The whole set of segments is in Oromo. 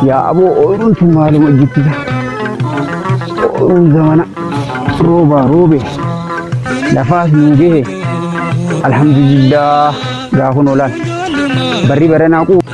yaa aboo ooyiruun tun maaluma jibbisa ooyiruun zamana roobaa roobe lafaas nuu gahe alhamdulillah gaafa noolaan barri baranaa quu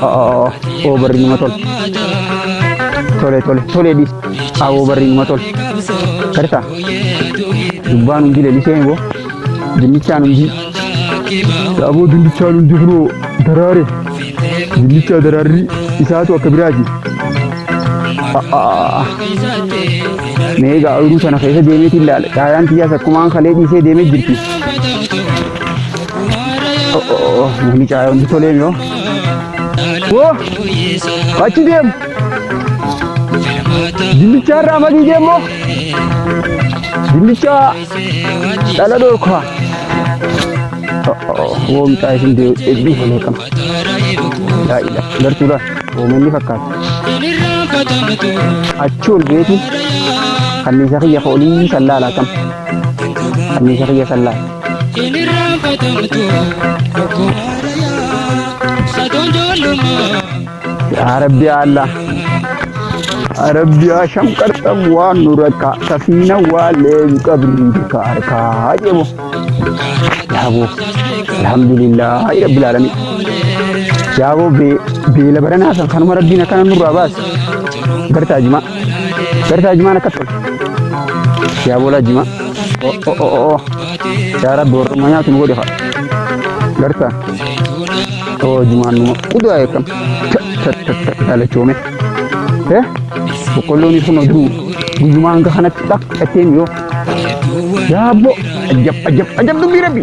Awoo barri nama tole. Tole tole tole dhis. Awoo barri nama tole. Karta. Dubbaan hundi leelisee hin boo. Dinnichaan hundi. Aboo dinnichaan hundi kunoo daraare. Dinnichaa daraarri isaatu akka biraati. Mee egaa oyiruu sana keessa deemeetiin ilaala. Caayaan kiyyaas akkumaan kalee dhiisee deemee jirti. Mucaa hundi tolee yoo. Woo! Achi deemu. Dindichaa irraa madii deemu. Dindichaa dhala dhorkaa. Woo mucaa isin deebii tolee qaba. Daa'ila gartuudhaan uummanni fakkaata. Achi ol beetiin kanniisa kiyya foolii sallaa laatan. Kanniisa kiyya sallaa. Hin irraanfatamtu lubbuu haarayaa satoon joollumaa. yaa rabbi yaa allah rabbi yaa shamqarxam waan nu rakkaa safiina waa leebi qabni bika harkaa jemo yaabo alhamdulillah hay rabbil alamin yaabo beela baranaa san kanuma rabbiin akkana nurraa baase gartaa jimaa Jarsaa jimaan akkas godhe. Yaa boolaa jimaa. Oh, oh, oh, oh, oh. Yaa rabbi warrummaa nyaatu nu godhe haa. Jarsaa. Oh, jimaan numa. Udaa eekam. Dhalachoome. Eh? Boqqolloon kun oduu guyyumaa hanga kanatti dhaq dhattee miyoo. Yaa abbo. Ajab ajab ajab dubbii rabbi.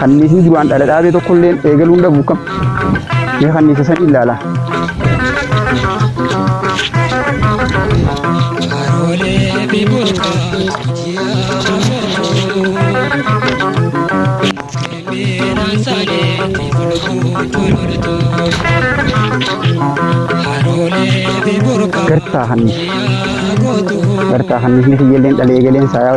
Kanniisni duraan dhala dhaabee tokko illee eegaluun dhabu kam? Mee kanniisa san ilaala. Gartaa kanniisa. Gartaa kanniisni kiyya illee dhala eegaleen isaa yaa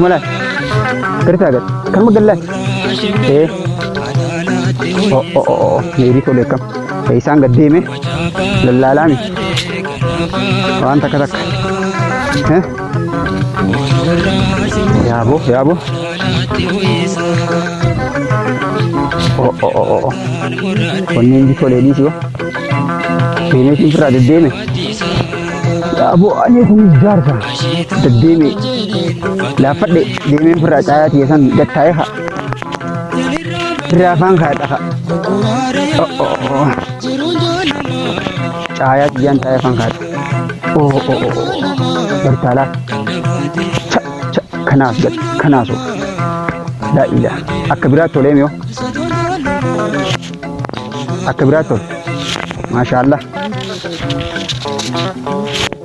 Malaan. Gartaa gad. Kan magallaan. Ee. O o o o. Meerii tole kam. Isaan gad deeme. Lallaalaa mi. Waan takka takka. Eh? Yaaboo yaaboo. O o o o o. Onneen inni tolee dhiisi wa. Deemeetiin firraa deddeeme. Yaaboo ani kun jaarsa. Deddeeme laaffadhe deemeen firraa caayaa tiyya san gattaa'ee haa. Firraa afaan kaadha haa. Caayaa tiyyaan taa'ee afaan kaadha. Oo oo oo bartaalaa. Cha cha kanaas gad kanaasoo. Daa'ila akka biraatti tolee miyoo. Akka biraatti tole. Maashaallah.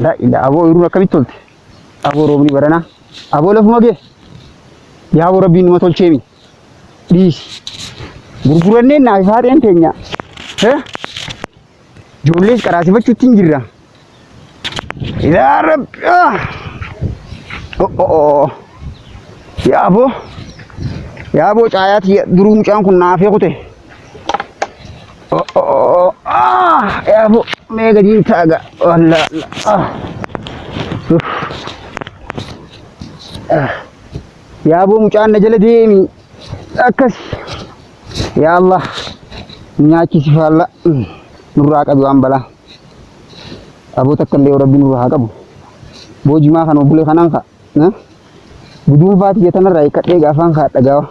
Laa ilaa aboo oyiruun akkamitti tolte? Aboo roobni baranaa. Aboo lafuma gee. Yaa aboo rabbiin numa tolcheemi. Dhiisi. Gurguranneen naa ifaa ta'een teenya. Hee? Ijoollees qaraasifachuutti hin jirra. Yaa rabbi. ah! Oh, oh, oh. Yaa aboo. Yaa aboo caayaati duruu mucaan kun naafee kute. Oh, oh, oh, oh. Ah, ya bu, mega cinta agak. Oh, la, la. Ah. Uff. Ah. Ya bu, mucaan na jala deemi. Akkas. Ya Allah. Nyaachisi faalla. Mm. Nurraa qabi waan balaa. Aboo takka illee rabbi nurraa haa qabu. Boojimaa kan obbulee kanaan ka'a. Guduunfaa tiyya tanarraa hiikkadhee gaafaan ka'a dhagaawa.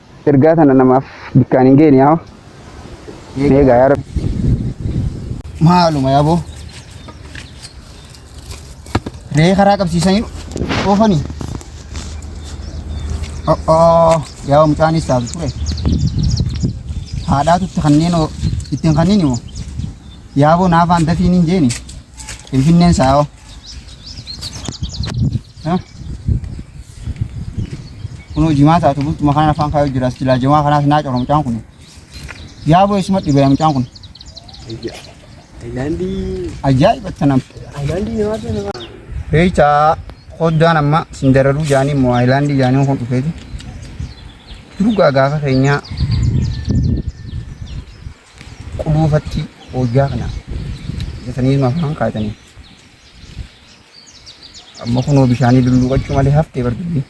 Ergaa tana namaaf bikkaan hin geeni yaa. Eegaa yaa rabbi. Maaluma yaa boo. Ree karaa qabsiisanii oofanii. O'oo yaa mucaanis taatu ture. Haadhaatu itti kanneen ittiin kanneen immoo. Yaa boo naafaan dafiin hin jeeni. Finfinneen saayoo. Kunoo jimaa taatu bultuma kanaan afaan kaayuu jira. Silaa jimaa kanaas naa cora mucaan kun. Yaa boo isuma dhibee mucaan kun. Taayilaandii. Ajaa'iba tanam. Taayilaandii nyaata nama. Beeytaa qoddaan amma sindararuu jaanii immoo Haayilaandii jaanii kun dhufeeti. Durgaa gaafa keenyaa quluufatti hojjaa kana jetanii nu afaan kaayatanii amma kunoo bishaanii lulluuqachuu malee haftee barbadni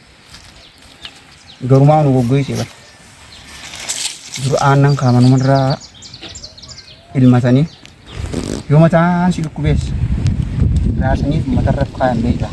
garumaa nu goggoysee bar dura aannan kaamanumarraa ilmatanii yoo mataan si dhukkubees raasanii matarra kaayan beektaa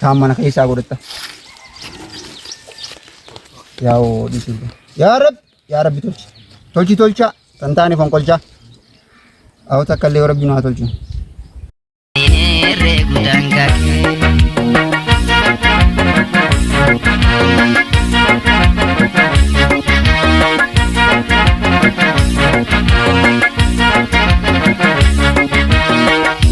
Kaan mana keessaa godhatta. Yaa oo dhiisuu. Yaa Rabbi yaa Rabbi tolchi. Tolchi tolchaa kan taane fonqolchaa. Awwa takka illee Rabbi nu haa tolchu.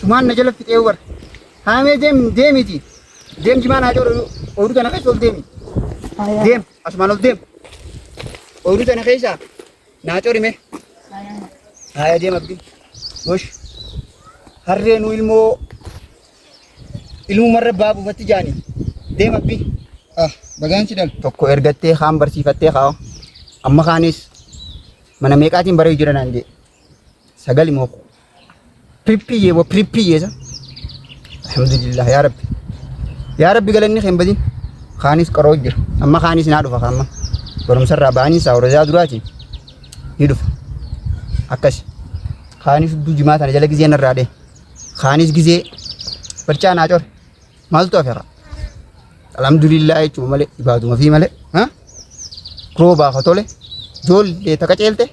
Sumaan na jala fixee bar. Haamee deem deemiti. Deem jimaa naa joru ooyiruu tana keessa ol deemi. Deem asumaan ol deem. Ooyiruu tana keessa naa corime. Haaya deem abdi. Gosh. Harree nu ilmoo ilmumarra baa buufatti jaani. Deem abdi. Ah bagaan si dal. Tokko ergattee kaan barsiifattee kaa. Amma kaanis mana meeqaatiin baree jira naan jee. sagali moo pirippiyyee moo pirippiyyee san alhamdulillah yaa rabbi yaa rabbi galanni keen badin kaanis qaroo jira amma kaanis naa dhufa kaamma barumsarraa ba'anii isaa warra duraatiin ni dhufa akkasi kaanis hudduu jimaa tana jala gizee narraa dhee kaanis gizee barcaa naa core maaltu hafe kaa alhamdulillah jechuun malee ibaaduma fi malee ha roobaa ka tole ijoollee taka ceelte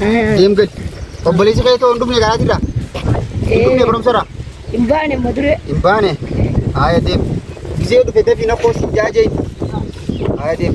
Deem gad. Obboleessi kee ta'uu hin dhufne karaa jirra. Hin dhufne barumsarra. Hin baane amma dure. Hin baane. Haaya deem. Gisee dhufe dafii na koosi jaajee. Haaya deem.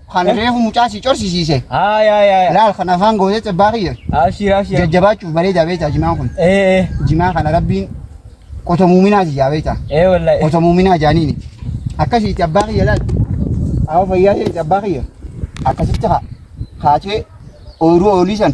Kana reefu mucaa si corsisiise. Haa yaa yaa yaa. Laal kan afaan gootee cebbaa kiyya. Abshiir abshiir. Jajjabaachuuf bareedaa beektaa jimaan kun. Ee ee. Jimaa kana rabbiin qoto muuminaa jijaa beektaa. Ee wallahi. Qoto muuminaa jaaniini. Akkasitti abbaa kiyya laal. Awa fayyaa ta'e abbaa kiyya. Akkasitti haa. Haatee ooyiruu oolii san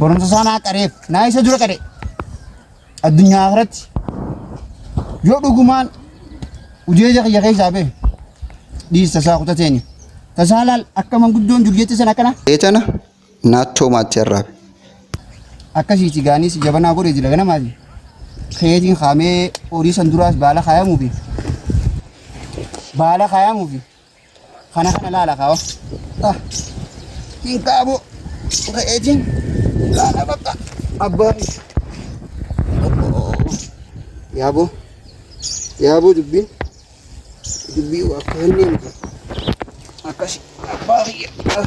Barumsa isaa naa qareef naa isa dura qare addunyaa irratti yoo dhugumaan ujeeja kiyya keessaa bee dhiis tasaa kutateeni tasaa laal akka manguddoon dur jette san akkana Eetana naattoo maatti arraabe. akkasiiti gaanis jabanaa godhe jira ganamaati keetiin kaamee horii san duraas baala kaayamuu fi baala kaayamuu fi Kana kana laala kawa. Ah. Hin kaabu. Re'eetiin laala bakka. Abbaa. Yaaboo. Yaaboo dubbiin. Dubbii akka hin deemne. Akkasi. Abbaa kiyya. Ah.